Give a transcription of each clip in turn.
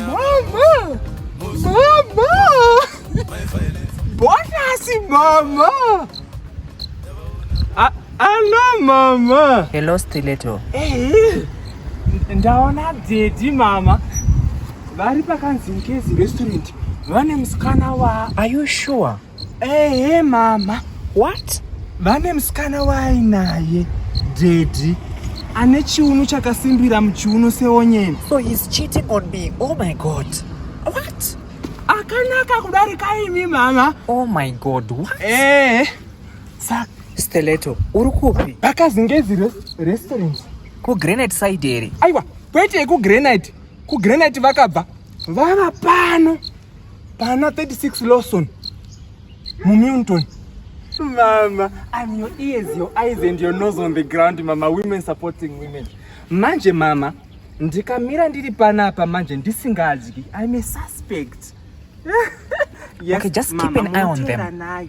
Mama! Mama! Bonasi mama! A- Hello mama! Hello Stiletto. Eh, ndaona daddy mama vari pakanzi mkezi restaurant vane musikana wa Are you sure? Ehe mama. What? Vane musikana waainaye daddy ane chiuno chakasimbira muchiuno seonyeni. So he's cheating on me. Oh my god. What? Akanaka kudarika imi mama. Oh my god. What? Eh. Saka Steleto, uri kupi? Pakazingezi restaurant. Ku Granite side here? Aiwa, kwete ku Granite. Ku Granite vakabva. Vava pano. Pana 36 Lawson muMilton. Mama, I'm your ears, your eyes and your nose on the ground, mama. Women supporting women. Manje mama, ndikamira ndiri panapa manje ndisingadyi. I'm a suspect. yes, okay, just mama, keep an eye on them. Nayo.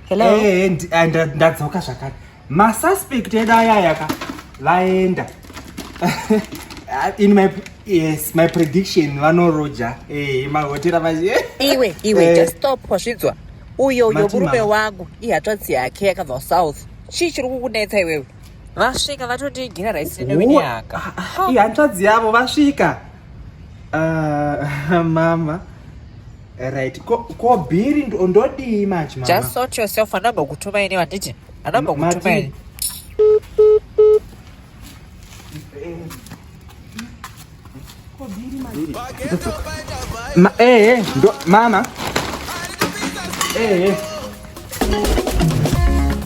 Hello. Eh, eh, eh, eh nda- ndadzoka zvakare masuspect edu ayaya ka vaenda in my yes my prediction vanoroja eh, mahotera vaje iwe iwe Eh. just stop wasvidzwa uyo uyo Mati murume mama. wangu ihatsvadzi yake yakabva kusouth chii chiri kukunetsa iwewe vasvika vatoti gina raisi newenyaka ihanzvadzi yavo vasvika Uh, mama right ko, ko bhiri ndodii manje mama just sort yourself anambokutumai ne vanditi anambokutumai Ma, eh, eh, ndo, mama eh, eh.